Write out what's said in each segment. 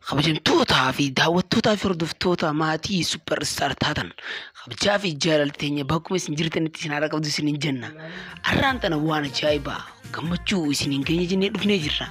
Kabajamtootaa fi daawwattootaa fi hordoftoota maatii Super Star taatan kabajaa fi jaalalli teenya bakkuma isin jirtanitti isin haara qabdu isiniin jenna. Har'aan tana waan ajaa'ibaa gammachuu isiniin geenye jennee dhufnee jirra.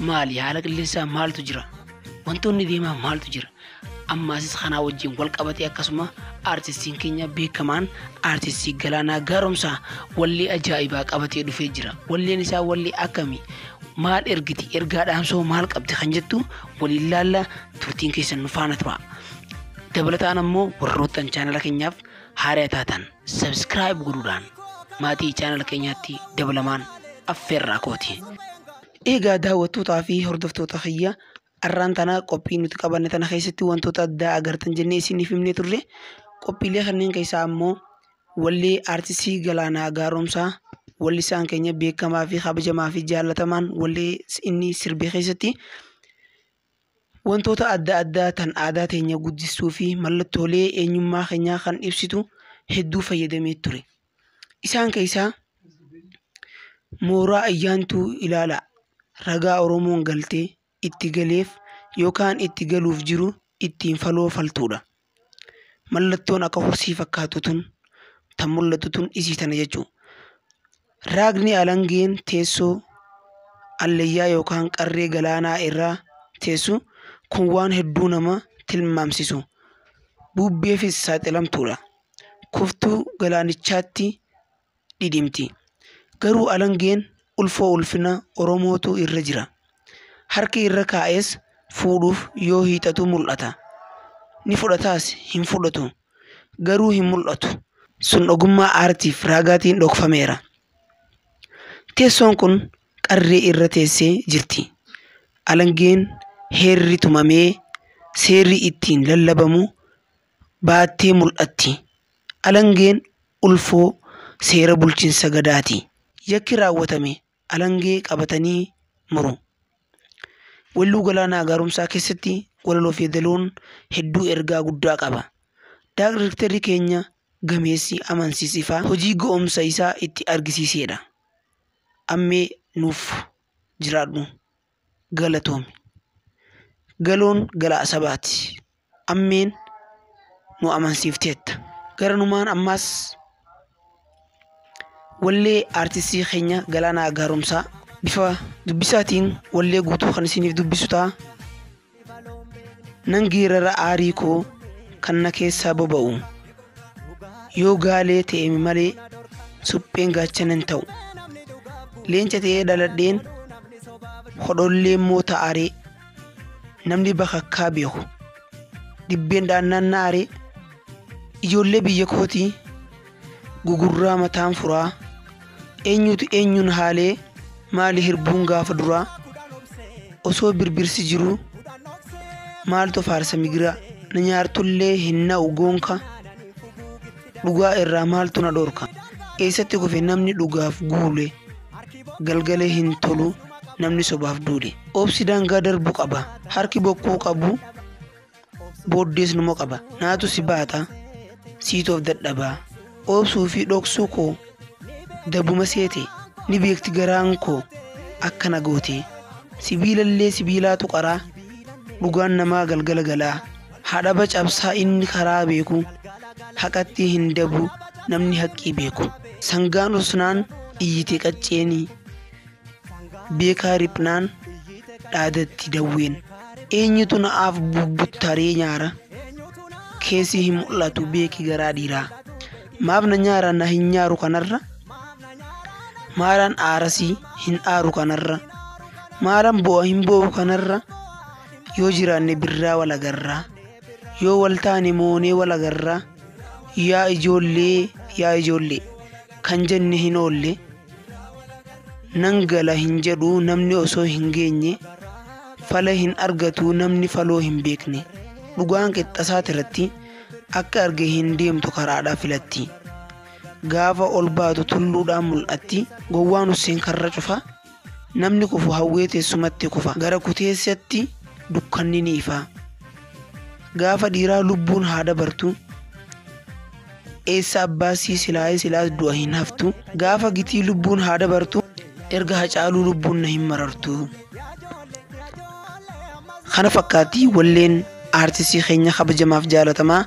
Maali haala qilleensaa maaltu jira? Wantoonni deemaa maaltu jira? Ammaasis kanaa wajjin wal qabatee akkasuma aartistiin keenya beekamaan aartistii Galaanaa Gaaromsaa wallee ajaa'ibaa qabatee dhufee jira. Walleen isaa wallee akkamii? maal ergiti ergaa dhaamsoo maal qabdi kan jettu waliin laalla turtiin keessan nu faana tura dabalataan ammoo warroottan chaanala keenyaaf haaraa taatan sabskiraayib godhuudhaan maatii chaanala keenyaatti dabalamaan affeerraa kooti. Eegaa daawwattootaa fi hordoftoota kiyya arraan tana qophii nuti qabanne tana keessatti wantoota addaa agartan jennee isiniif himnee turre qophiilee kanneen keessaa ammoo Wallee Artistii Galaanaa Gaaromsaa wallisaan keenya beekamaa fi kabajamaa fi jaallatamaan wallee inni sirbe keessatti wantoota adda addaa tan aadaa teenya guddistuu fi mallattoolee eenyummaa keenyaa kan ibsitu hedduu fayyadamee ture. Isaan keessaa mooraa ayyaantuu ilaalaa ragaa Oromoon galtee itti galeef yookaan itti galuuf jiru ittiin faloo faltuudha. Mallattoon akka horsii fakkaatu tun tan mul'atu tun isii tana jechuu. Raagni alangeen teessoo allayyaa yookaan qarree galaanaa irraa teessu kun waan hedduu nama tilmaamsisu. Buubbeefis saaxilamtuudha. Kuftuu galaanichaatti dhidhimti. Garuu alangeen ulfoo ulfina Oromootu irra jira. Harki irra kaa'es fuudhuuf yoo hiixatu mul'ata. Ni fudhataas hin fudhatu. Garuu hin mul'atu. Sun ogummaa aartiif raagaatiin dhokfameera. Teessoon kun qarree irra teessee jirti. Alangeen heerri tumamee seerri ittiin lallabamu baattee mul'atti. Alangeen ulfoo seera bulchinsa Gadaati. Yakki raawwatame alangee qabatanii muru. Welluu Galaanaa Gaaromsaa keessatti walaloof yeedaloon hedduu ergaa guddaa qaba. Daagrekterri keenya gameessi Amansiis Ifaa hojii ga'umsa isaa itti argisiiseedha. Ammee nuuf jiraadhu. galatoomi. Galoon galaa sabaati. Ammeen nu amansiifteetta. Garanumaan ammaas wallee aartistii keenya Galaanaa Gaaromsaa bifa dubbisaatiin wallee guutuu kan isiniif dubbisu ta'a. Nan geerara aarii koo kan na keessaa boba'u. Yoo gaalee ta'eemi malee supheen gaachana hin ta'u. Leenca ta'ee dhaladheen hodhollee immoo ta'aree namni bakakkaa beeku. Dibbeen dhaannaan na'aree ijoollee biyya kootii. gugurraa mataan furaa eenyuutu eenyuun haalee maali hirbuun gaafa duraa osoo birbirsi jiruu maaltu faarsa migiraa na nyaartullee hin na'u goonka dhugaa irraa maaltu na dhorka eessatti kufe namni dhugaaf guule galgalee hin tolu namni sobaaf duule obsi daangaa darbu qaba harki bokkuu qabu booddees numa qaba naatu si baata siitoof dadhabaa oobsuu fi dhoksuu koo dabuma seete ni beekti garaan koo akkana gootee sibiilallee sibiilaatu qaraa dhugaan namaa galgala galaa haadhaba cabsaa inni karaa beeku haqattii hin dabu namni haqqii beeku sangaan usnaan iyyite qacceenii Beekaa riphnaan dhaadatti dawween. Eenyutu na'aaf bubbuttaree nyaara? Keessi hin mul'atu beeki garaa dhiiraa. Maaf na nyaara na hin nyaaru kanarra? Maalan aarasii hin aaru kanarra? Maalan boo'a hin boo'u kanarra? Yoo jiraanne birraa wal agarraa. Yoo wal taane moonee wal agarraa. Yaa ijoollee yaa ijoollee kan jenne hin oolle. Nan gala hin jedhu namni osoo hin geenye, fala hin argatu namni faloo hin beekne. Dhugaan qixxasaati irratti akka arge hin deemtu karaadhaa filatti. Gaafa ol baatu tulluudhaan mul'atti, gowwaan Husseen karra cufa, namni kufu hawwee teessumatti kufa, gara kuteessatti dukkanni ni ifa. Gaafa dhiiraa lubbuun haa dabartu. Eessa abbaasii silaa'ee silaas du'a hin haftu. Gaafa gitii lubbuun haa dabartu. Erga hacaaluu lubbuun na hin marartu. Kana fakkaatti walleen aartistii keenya kabajamaaf jaalatamaa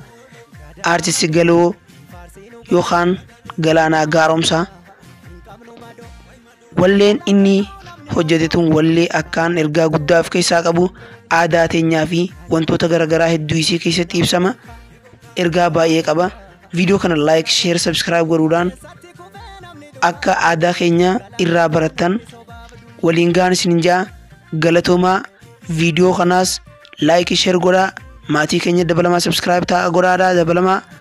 aartistii galoo yookaan galaanaa gaaromsaa Walleen inni hojjete tun wallee akkaan ergaa guddaa of keessaa qabu aadaa teenyaa fi wantoota garaagaraa hedduu isii keessatti ibsama ergaa baay'ee qaba viidiyoo kana like share subscribe godhuudhaan akka aadaa keenya irraa barattan waliin gahan isin ja'a galatoomaa viidiyoo kanaas like share godhaa maatii keenya dabalamaa subscribe ta'a godhaadhaa dabalamaa